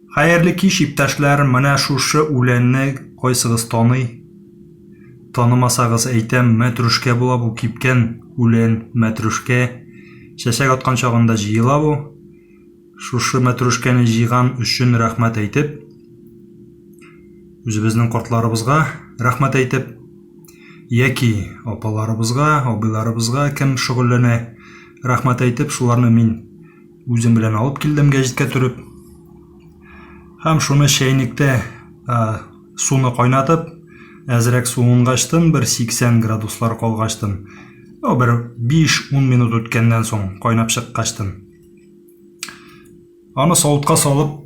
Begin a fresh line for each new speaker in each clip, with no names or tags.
Хәерле кич, иптәшләр! Менә шушы үләнне кайсыгыз таный? Танымасагыз әйтәм, мәтрүшкә була бу, кипкән үлән, мәтрүшкә. Чәчәк аткан чагында җыела бу. Шушы мәтрүшкәне җыйган өчен рәхмәт әйтеп, үзебезнең кортларыбызга рәхмәт әйтеп, яки апаларыбызга, абыйларыбызга кем шөгыльләнә, рәхмәт әйтеп, шуларны мин Үзем белән алып килдем гәҗиткә төреп. Һәм шуны чәйнектә суны кайнатып, әзрәк суынгачтын, бер 80 градуслар калгачтын, ну, бер 5-10 минут үткәннән соң кайнап чыккачтын. Аны савытка салып,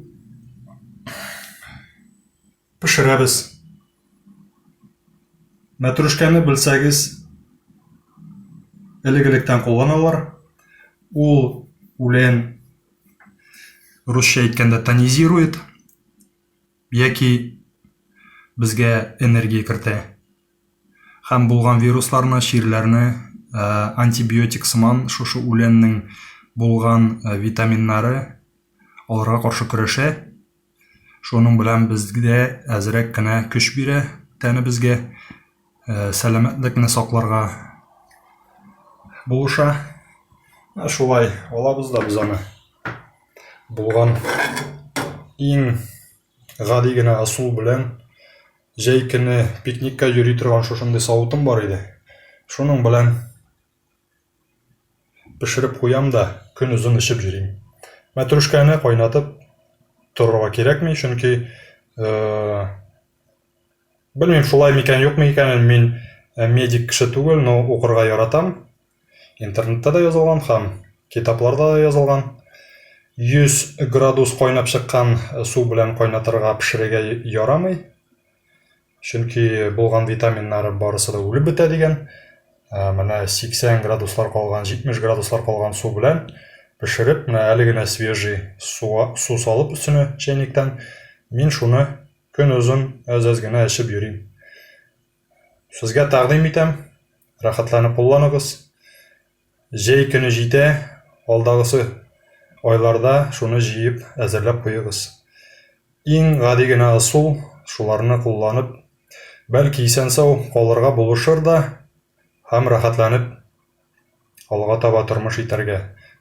Пешерәбез. Мәтрүшкәне белсәгез, элек-электән кулланалар. Ул үлән русча әйткәндә тонизирует яки безгә энергия кертә. Һәм булган вирусларны, чирләрне антибиотик сыман шушы үләннең булган витаминнары аларга каршы көрәшә. Шуның белән безгә әзрәк кенә көч бирә тәнебезгә, э, сәламәтлекне сакларга булыша. Ә шулай алабыз да без аны. Булган иң гади генә ысул белән җәй көне пикникка йөри торган шушындый савытым бар иде. Шуның белән Пешереп куям да, көн озын эчеп йөрим. Мәтрүшкәне кайнатып торырга кирәкми, чөнки, белмим, шулай микән, юкмы икән, мин медик кеше түгел, но укырга яратам. Интернетта да язылган һәм китапларда да язылган. 100 градус кайнап чыккан су белән кайнатырга, пешерергә ярамый. Чөнки булган витаминнары барысы да үлеп бетә дигән. Ә, менә 80 градуслар калган, 70 градуслар калган су белән пешереп, менә әле генә свежий суга, су салып өстенә чәйниктән, мин шуны көн озын әз-әз генә эчеп йөрим. Сезгә тәкъдим итәм, рәхәтләнеп кулланыгыз. Җәй көне җитә, алдагысы айларда шуны җыеп әзерләп куегыз. Иң гади генә ысул, шуларны кулланып, бәлки исән-сау калырга булышыр да һәм рәхәтләнеп алга таба тормыш итәргә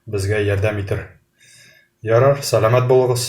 безгә ярдәм итер. Ярар, сәламәт булыгыз!